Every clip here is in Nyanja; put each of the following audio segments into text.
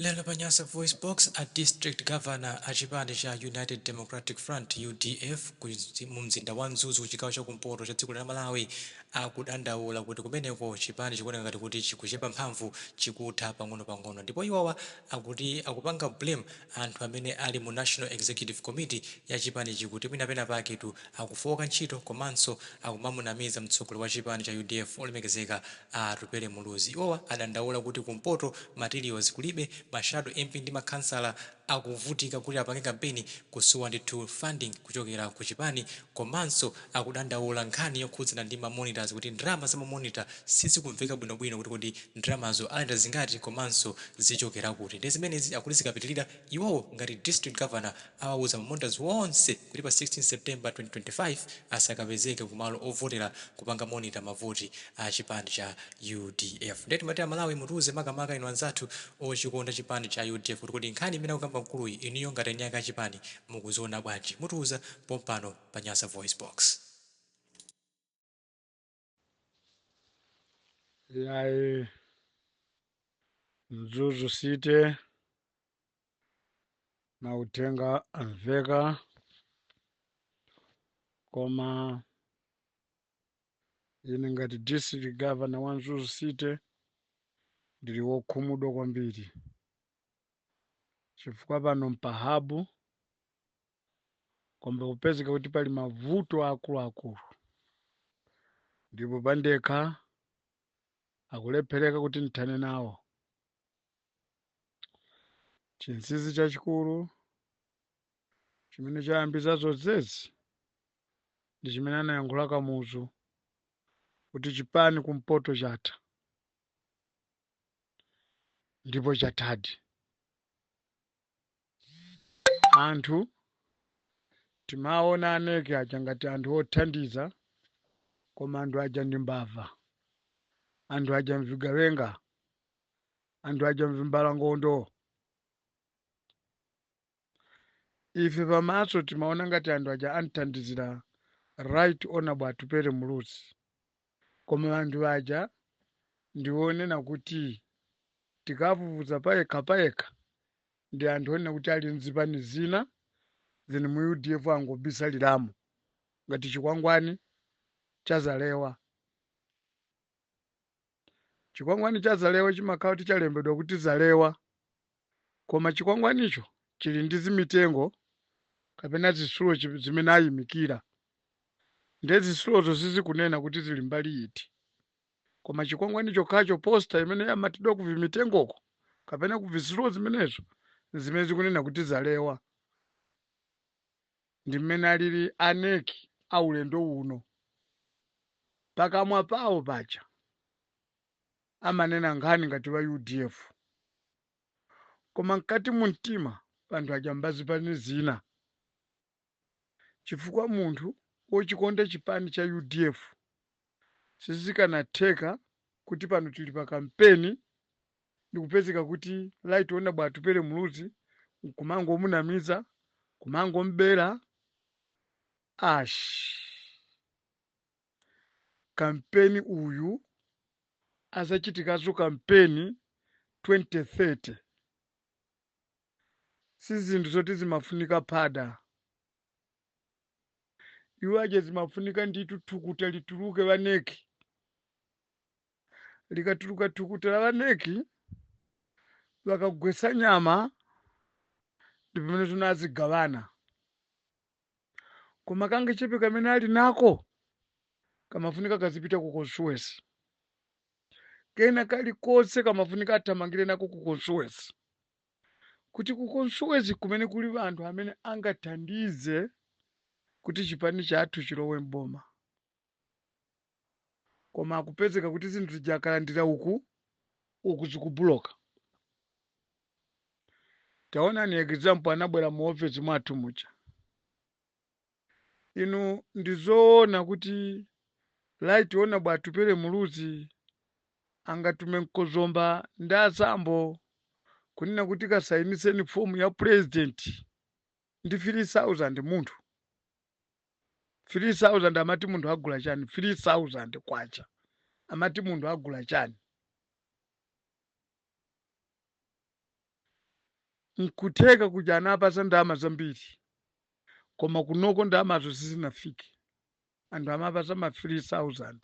Lero pa Nyasa VoiceBox, a District Governor a chipani cha United Democratic Front, udf, mu mzinda wa Mzuzu ku chigawo cha kumpoto cha dziko lino la Malawi akudandaula kuti kumeneko chipani chikuoneka ngati kuti chikuchepa mphamvu, chikutha pang'onopang'ono ndipo iwowa akuti akupanga blame anthu amene ali mu National Executive Committee ya chipanichi kuti mwina penapake tu akufooka ntchito komanso akumamunamiza mtsogoleri wa chipani cha udf olemekezeka a Atupele Muluzi. Iwowa adandaula kuti ku mpoto materials kulibe, ma shadow MP ndi makhansala akuvutika kuti apange kampeni kusowa ndithu funding kuchokera ku chipani komanso akudandaula nkhani yokhudzana ndi ma monitors kuti ndalama za ma monitor sizikumveka bwinobwino kuti kodi ndalamazo alandira zingati komanso zichokera kuti. Ndiye zimenezi akuti zikapitirira, Iwowo ngati district governor awauza ma monitors wonse kuti pa 16 September 2025 asakapezeke ku malo ovotera kupanga monitor ma voti a chipani cha udf. Ndiye timati a Malawi mutiuze makamaka inu anzathu ochikonda chipani cha udf kuti kodi nkhani imene akukamba mkuluyi inuyo ngati eni ake a chipani mukuziona bwanji? Mutiuza pompano pa Nyasa VoiceBox. Yayi Mzuzu City na uthenga amveka koma ine ngati district governor wa Mzuzu City ndili wokhumudwa kwambiri chifukwa pano mpahabu koma kupezeka kuti pali mavuto akuluakulu ndipo pandekha akulephereka kuti ndithane nawo chinsinsi chachikulu chimene chayambitsa zonsezi ndi chimene anayankhula Kamuzu kuti chipani kumpoto chatha ndipo chathadi anthu timaona a NEC aja ngati anthu othandiza koma anthu aja ndi mbava anthu aja mvigawenga anthu aja mvimbalangondo ife pamaso timaona ngati anthu aja anthandizira right honorable Atupele Muluzi Koma anthu aja ndi onena kuti tikafufuza payekha payekha ndi anthu onena kuti ali mzipani zina then mu udf angobisaliramo ngati chikwangwani cha Zalewa. Chikwangwani cha Zalewa chimakhala kuti chalembedwa kuti Zalewa koma chikwangwanicho chili ndi zimitengo kapena zitsulo chi- zimene ayimikira nde zitsulozo sizikunena kuti zili mbali iti koma chikwangwani chokhacho posta imene yamatidwa ku vimitengoko kapena ku vizitsulo zimenezo zimene zikunena kuti zalewa ndi mmene alili a NEC a ulendo uno pakamwa pawo paja amanena nkhani ngati a udf koma mkati mumtima pa anthu aja mbazipani zina chifukwa munthu wochikonda chipani cha udf sizikanatheka kuti pano tili pa kampeni ndikupezeka kuti Right Honourable Atupele Muluzi nkumangomunamiza kumangom'bera ash kampeni uyu azachitikaso kampeni 2030 sizinthu zoti zimafunika phada iwo aja zimafunika ndithu thukuta lituluke a NEC likatuluka thukuta la a NEC akagwesa nyama ndi pamene zona azigavana koma kangachepe kamene ali nako kamafunika kazipita ku constituency kena kalikonse kamafunika athamangire nako ku constituency kuti ku constituency kumene kuli anthu amene angathandize kuti chipani chathu chilowe m'boma koma akupezeka kuti zinthu zija akalandira uku uku zikubuloka taonani example anabwera mu office mwathu muja inu ndizoona kuti Right Honourable Atupele Muluzi angatume mkozomba ndi a Zambo kunena kuti kasayiniseni fomu ya president ndi 3000 munthu 3000 amati munthu agula chani 3000 kwacha amati munthu agula chani nkutheka kuja anapasa ndalama zambiri koma kunoko ndalamazo sizinafike anthu amapasa ma 3000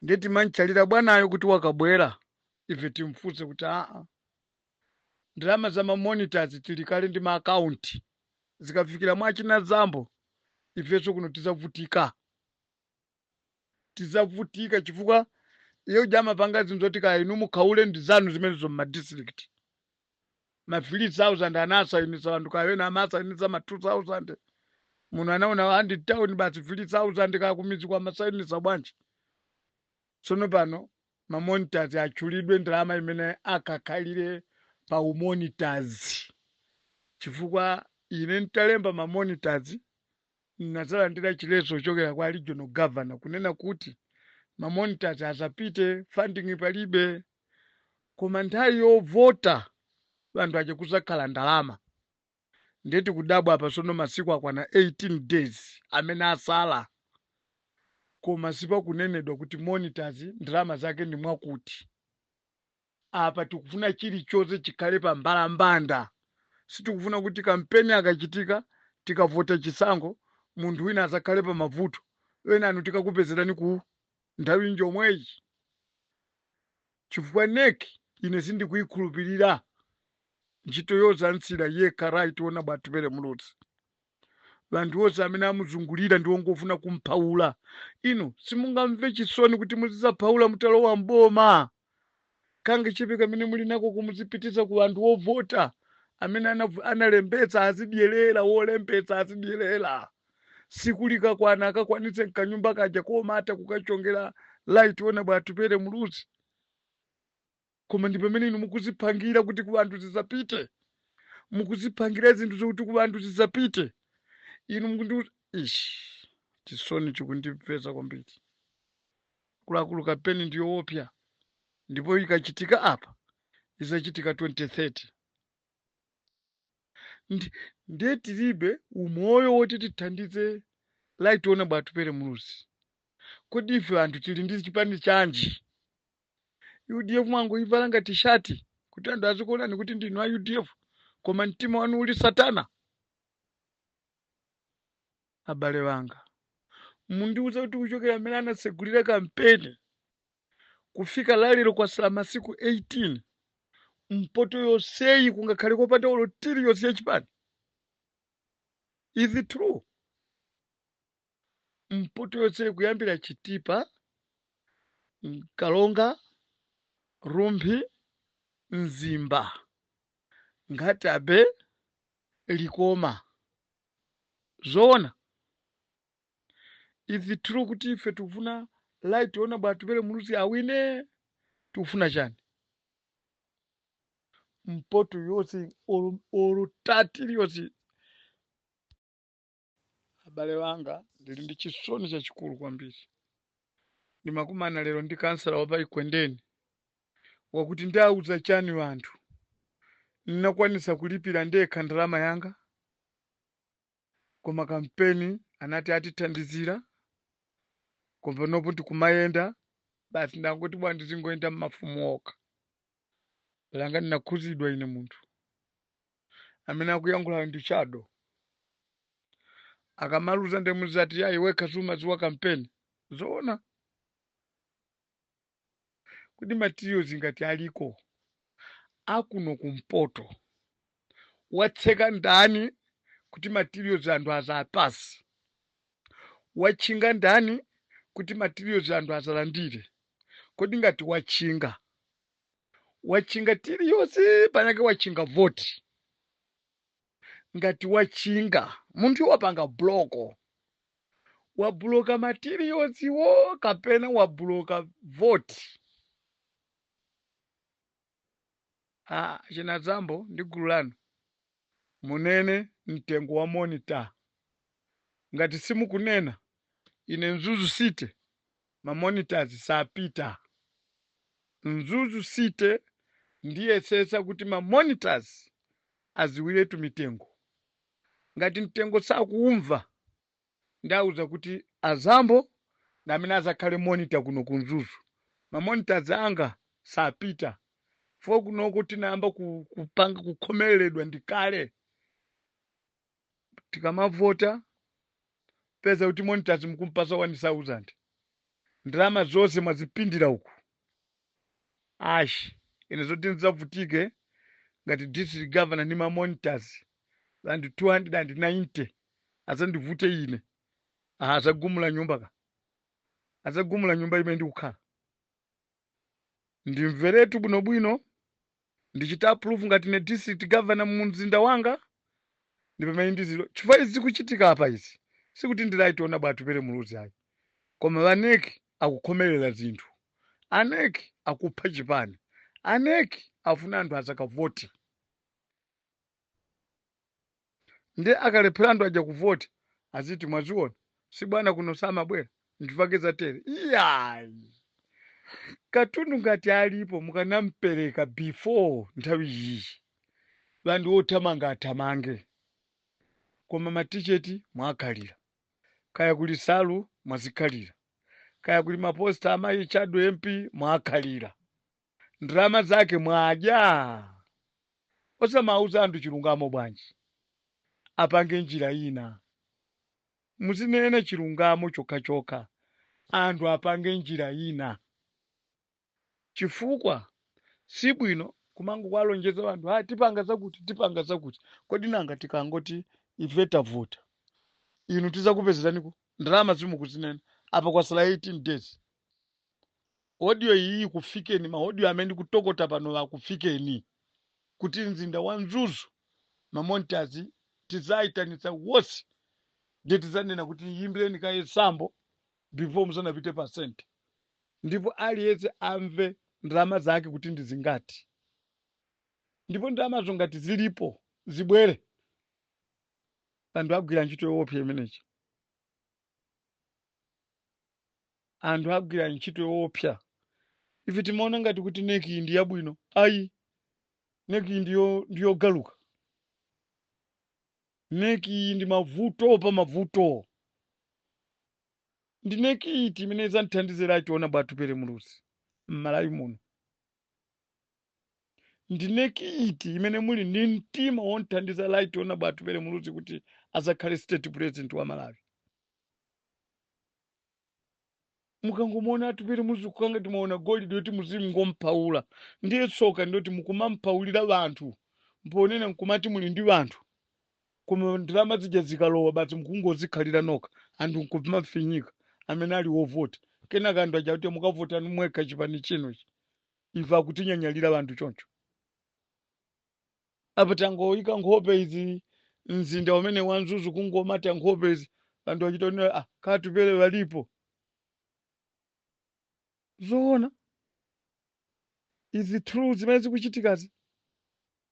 ndiye timamtchalira bwanayo kuti wakabwera ife timfunse kuti aa ndalama za mamonitors tili kale ndi maakaunti zikafikira mwa achina zambo ifenso kuno tizavutika tizavutika chifukwa iye uja amapanga zinthu zoti kaya inu mukhaule ndi zanu zimenezo mmadistrict ma 3000 anasainisa wanthu kaya ena amasainisa ma 2000 munthu anaona wandi town basi 3000 kaya kumiziko amasainisa bwanji tsono pano mamonitazi atchulidwe ndalama imene akakhalire pa umonitazi chifukwa ine ntalemba mamonitazi ndinazalandira chileso chokera kwa regional governor kunena kuti mamonitazi asapite funding palibe koma nthawi yovota wanthu ache kuzakhala ndalama ndiye tikudabwa apa sono masiku akwana 18 days amene asala koma sipakunenedwa kuti monitors ndalama zake ndi mwakuti apa tikufuna chilichonse chikhale pa mbalambanda sitikufuna kuti kampeni akachitika tikavota chisankho munthu wina azakhale pa mavuto enanu tikakupezerani ku nthawi njomweyi chifukwa nek ine sindikuikhulupirira ntchito yozamsiira yekha right honourable atupele muluzi wanthu onse amene amuzungulira ndi ongofuna kumphaula inu simungamve chisoni kuti muzizaphaula mutalowa mboma kangachepe kamene muli nako kumuzipitisa ku anthu ovota amene anav- analembetsa azidyerera wolembetsa azidyerera siku likakwana akakwanitse mkanyumba kaja koma ata kukachongera right honourable atupele muluzi koma ndi pamene inu mukuzipangira kuti ku anthu zisapite mukuzipangira zinthu zokuti ku anthu zisapite inu mukundi ish chisoni chikundipeza kwambiri Akuluakulu kampeni ndi yoopsa ndipo ikachitika apa izachitika 2030 ndi ndiye tilibe umoyo woti tithandize right honourable atupele muluzi kodi ife anthu tili ndi chipani chanji udf mwangoivala ngati shati kuti anthu azikuonani kuti ndinu a udf koma mtima wanu uli satana abale wanga mundiuza kuti kuchokera mmene anatsegulira kampeni kufika lalero kwasala masiku 18 mpoto yonseyi kungakhale kopanda olo tiri yonse yachipani is it true mpoto yonseyi kuyambira chitipa karonga rumphi mzimba nkhata bay likoma zoona is it true kuti ife tikufuna right honourable atupele muluzi awine tikufuna chani mpoto yonse olo- olo tati iliyonse abale wanga ndili ndi chisoni chachikulu kwambiri ndimakumana lero ndi kansala wapa ekwendeni wakuti ndiwauza chani anthu? Ndinakwanitsa kulipira ndekha ndalama yanga koma kampeni anati atithandizira koma panopo ndikumayenda basi ndangoti bwa ndizingoyenda mmafumu okha palanga ndinakhuzidwa ine munthu amene akuyankhulayo ndi chado akamaluza nde muzati ayi wekha sumadziwa kampeni zoona kodi materials ngati aliko akuno kumpoto watseka ndani kuti materials anthu azapatsidwe watchinga ndani kuti materials anthu azalandire kodi ngati watchinga watchinga materials panake watchinga voti ngati wachinga munthu wapanga block wabuloka materials-wo kapena wabuloka voti ah, China Zambo ndi gulu lanu munene mtengo wa monita ngati simukunena ine mzuzu city ma monitors sapita. Mzuzu city ndiyetsetsa kuti ma monitors adziwiretu mitengo. Ngati mtengo sakuumva ndiwauza kuti a Zambo ndi amene azakhale monitor kuno ku mzuzu. Ma monitors anga sapita chifukwa kunoko tinayamba kupanga kukhomereredwa ndi kale. tikamavota mupeza kuti monitors mukumpasa 1000 ndalama zonse mwazipindira uku ash ine zoti ndizavutike ngati district governor ndi ma monitors anthu 290 azandivute ine aha azagumula nyumba ka azagumula nyumba imene ndikukhala ndimveretu bwinobwino ndichita approve ngati ine district governor mu mzinda wanga ndi pamene ndidziwe chifukwa izi zikuchitika apa izi sikuti ndi Right Honourable Atupele Muluzi ayi koma a NEC akukhomerera zinthu a NEC akupha chipani a NEC afuna anthu asakavote nde akalephera anthu aja kuvota aziti mwaziona si bwana kuno samabwera nchifukwake zatere iyayi katundu ngati alipo mukanampereka before nthawi iyi anthu othamanga athamange koma maticheti mwakhalira kaya kuli nsalu mwazikhalira kaya kuli maposta amayi shadow mp mwakhalira ndalama zake mwadya osamauza anthu chilungamo bwanji apange njira ina muzinene chilungamo chokhachokha anthu apange njira ina chifukwa si bwino kumangokwalonjeza anthu tipanga zakuti tipanga zakuti kodi nanga tikangoti ife tavota inu tizakupezerani kuti ndalama zimukuzinena apa kwasala 18 days audio iyi ikufikeni ma audio amene ndikutokota pano akufikeni kuti mzinda wa mzuzu mamontazi tizayitanitsa wonse ndiye tizanena kuti yimbireni kaye sambo before musanapite pa sente ndipo aliyense amve ndalama zake kuti ndi zingati ndipo ndalamazo ngati zilipo zibwere anthu agwira ntchito yoopsa imeneyi anthu agwira ntchito yoopsa ife timaona ngati kuti neki ndi yabwino ayi neki ndiyogaluka neki ndi mavuto pa mavuto ndi neki iti imene idzanthandizira right honorable atupele muluzi m'malawi muno ndi neki iti imene muli ndi mtima womthandiza right honorable atupele muluzi kuti azakhale state president wa malawi mukangomuona atupele muluzi kukhala ngati mwaona golide yoti muzingompaula ndiye tsoka ndi loti mukumampaulira banthu pomwe nkumati muli ndi banthu koma ndalama zija zikalowa basi mukungozikhalira nokha anthu nkumafinyika amene ali wovota kenaka anthu aja kuti mukavota mwekha chipani chinochi Ife akutinyanyalira anthu choncho. Apa tangoyika nkhope izi mzinda umene wa Mzuzu kungomata nkhope izi anthu achitaonera ka Atupele walipo. Zoona izi true zimene zikuchitikazi.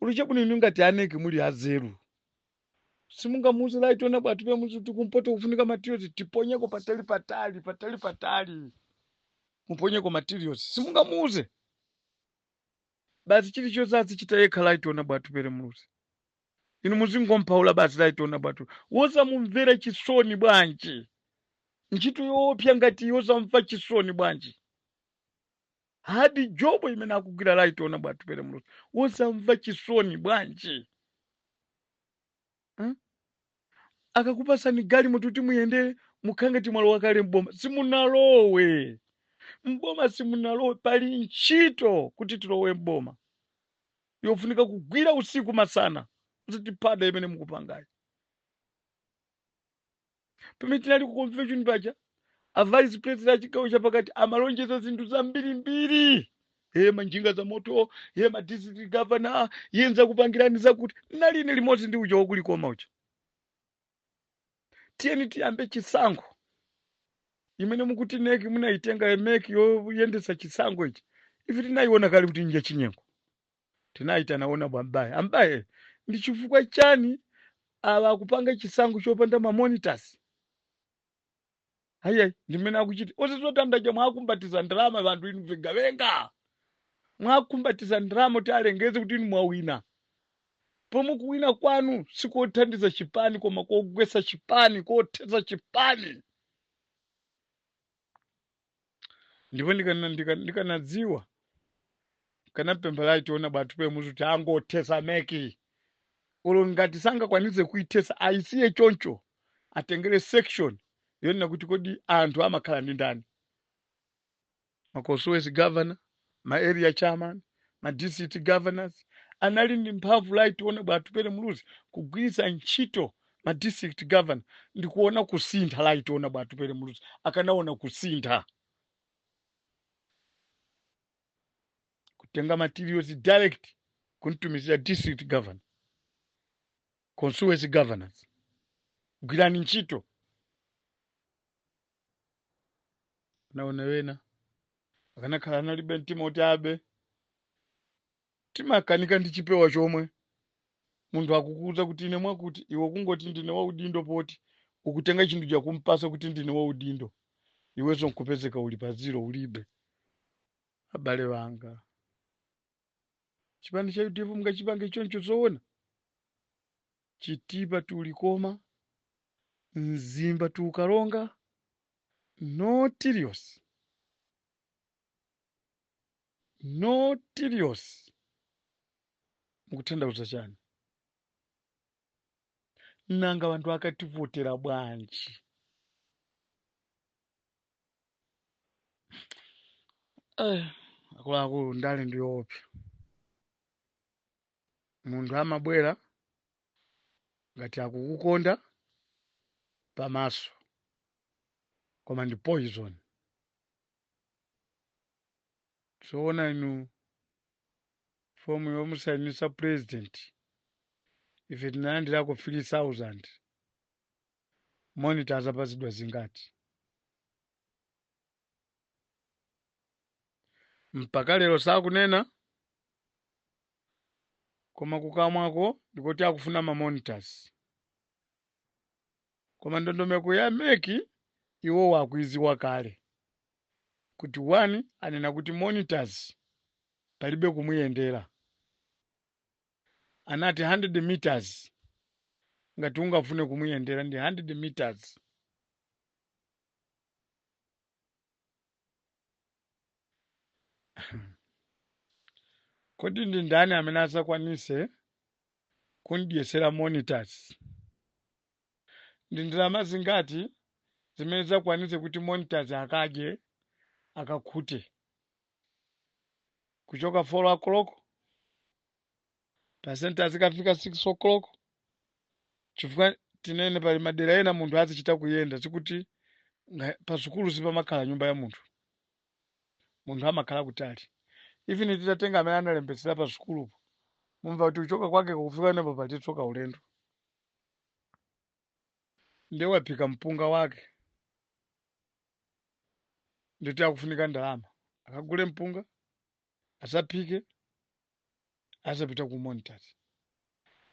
olo chabwino inu ngati aneki muli anzeru simungamuuze right honorable atupele muluzi kuti kumpoto kufunika materials tiponyeko patali patali patali patali muponyeko materials simungamuuze basi chilichonse azichita yekha right honorable atupele muluzi inu muzingompaula basi right honorable wosamumvera chisoni bwanji ntchito yoopsa ngati iyi osamva chisoni bwanji Hard job imene akugwira right honorable Atupele Muluzi. Wosamva chisoni bwanji? Hmm? Akakupasani galimoto kuti muyende mukhala ngati mwalowa kale m'boma. Simunalowe. M'boma simunalowe pali ntchito kuti tilowe m'boma. Yofunika kugwira usiku masana. Osati phada imene mukupangayi. pamene tinali ku convention paja a vice president a chigawo chapakati amalonjeza zinthu zambirimbiri ye manjinga za moto ye ma district governor ye nzakupangirani zakuti nali limodzi ndi uja wakulikoma uja tiyeni tiyambe chisankho imene mukuti NEC munayitenga MEC yoyendetsa chisankho ichi ife tinayiona kale kuti nja chinyengo Tinaitana Honourable Mbaye. A Mbaye, ndi chifukwa chani awa akupanga chisankho chopanda ma monitors? Ayi ayi, ndi m'mene akuchiti. Ose zotanda aja mwakumbatiza ndalama wanthu inu vigawenga. Mwakumbatiza ndalama kuti alengeze kuti inu mwawina. Pomwe kuwina kwanu sikothandiza chipani koma kogwesa chipani, kothetsa chipani. ndipo ndikana- ndika- ndikanadziwa nkanapempha right honorable Atupele Muluzi kuti angothesa MEC olo ngati sangakwanitse kuithesa ayisiye choncho atengere section yonena kuti kodi anthu amakhala ndi ndani ma constituency governor ma area chairman, ma district governors anali ndi mphamvu right honorable Atupele Muluzi kugwiritsa ntchito ma district governor ndikuona kusintha right honorable Atupele Muluzi akanaona kusintha kutenga materials direct kumtumizira district governor constituency governors gwirani ntchito anaona wena akanakhala analibe mtima kuti abe timakanika ndi chipewa chomwe munthu akukuuza kuti ine mwakuti iwo kungoti ndine waudindo poti ukutenga chinthu chakumpasa kuti ndine waudindo iwenso nkupezeka uli pa ziro ulibe abale wanga chipani cha udf mungachipange choncho zoona Chitipa to Likoma, Mzimba to Karonga, notorious, notorious mukutanthauza chani? Nanga wanthu akativotera bwanji? Eh, akuluakulu ndale ndiyoopsa. munthu amabwera ngati akukukonda pamaso koma ndi poison zoona inu fomu yomusayinisa president ife tinalandirako 3000 monitor azapatsidwa zingati mpaka lero sakunena koma kukamwako ndikoti akufuna mamonitors koma ndondomeko ya MEC iwowo akuiziwa kale kuti one anena kuti monitors palibe kumuyendera anati 100 meters ngati ungafune kumuyendera ndi 100 meters kodi ndi ndani amene adzakwanise kumdyesera monitors ndi ndalama zingati zimene zakwanise kuti monitors akadye akakhute kuchoka 4 o'clock pa center azikafika 6 o'clock chifukwa tinene pali madera ena munthu azichita kuyenda sikuti nga- pa sukulu sipamakhala nyumba ya munthu munthu amakhala kutali even titatenga amene analembetsera pa sukulupo mumva kuti kuchoka kwake kufika napo palitsoka ulendo ndiye waphika mpunga wake nditi akufunika ndalama akagule mpunga azaphike azapita ku monitors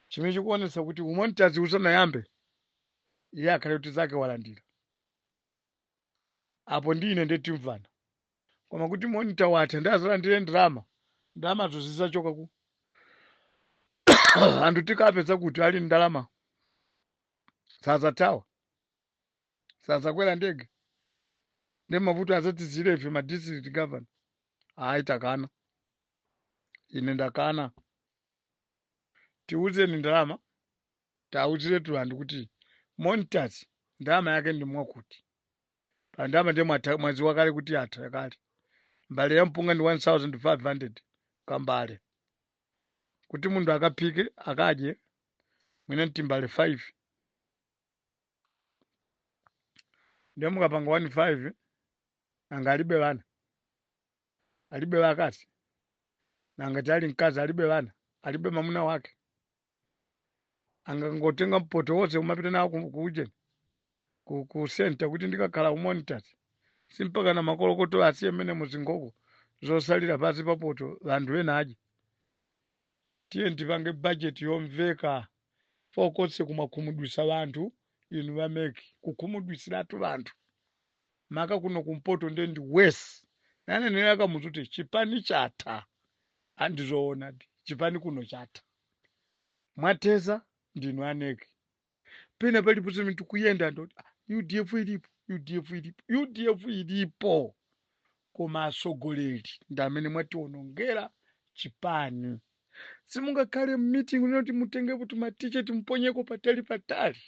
chimene chikuonetsa kuti umonitazi usanayambe iye akhale kuti zake walandira apo ndi ine ndiye timvana koma kuti monita watha ndi azalandire ndalama ndalamazo zizachoka ku anthu tikapeza kuti a ndalama sazathawa sadzakwera ndege ndiye mavuto azatisiyire ife ma district governor ayi takana ine ndakana tiuzeni ndalama tiwauziretu anthu kuti monitors ndalama yake ndi mwakuti pa ndalama ndiye mwatha- mwaziwa kale kuti yatha kale mbale ya mpunga ndi 1500 kambale kuti munthu akaphike akadye mwina mtimbale 5 ndiye mukapanga 1 5 nanga alibe bana alibe bakazi nanga atali mkazi alibe bana alibe mamuna wake angangotenga poto wonse umapita nawo ku- ku ujeni ku, ku center kuti ndikakhala umonitasi simpaka na makolokoto asiye nawo zingoko zosalira pasi papoto vanthu ena adye Tiyeni tipange budget yomveka chifukwa konse kumakhumudwisa banthu inu ba mec kukhumudwisilatu banthu maka kuno kumpoto nde ndi worse ananena a kamuzu kuti chipani chatha a ndizoonadi chipani kuno chatha mwathesa ndinu a nec. pena paliponse pamene tikuyenda anthu akuti "Ah, udf ilipo udf ilipo udf ilipo koma atsogoleri ndi amene mwatiwonongera chipani simungakhale mmeeting unena kuti mutengepo timatiketi timponyeko patali patali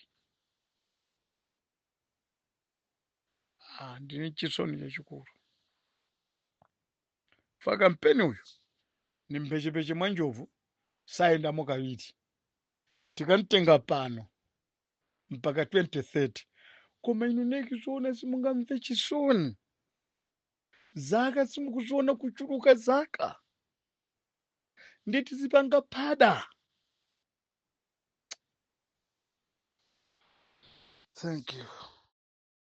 ah, ndine chisoni chachikulu pa kampeni uyu ndi mphechepeche mwa njovu sayendamo kawiri tikamtenga pano mpaka 2030 koma inu ndi zoona simungamve chisoni zaka simukuziona kuchuluka zaka ndiye tizipanga phada thank you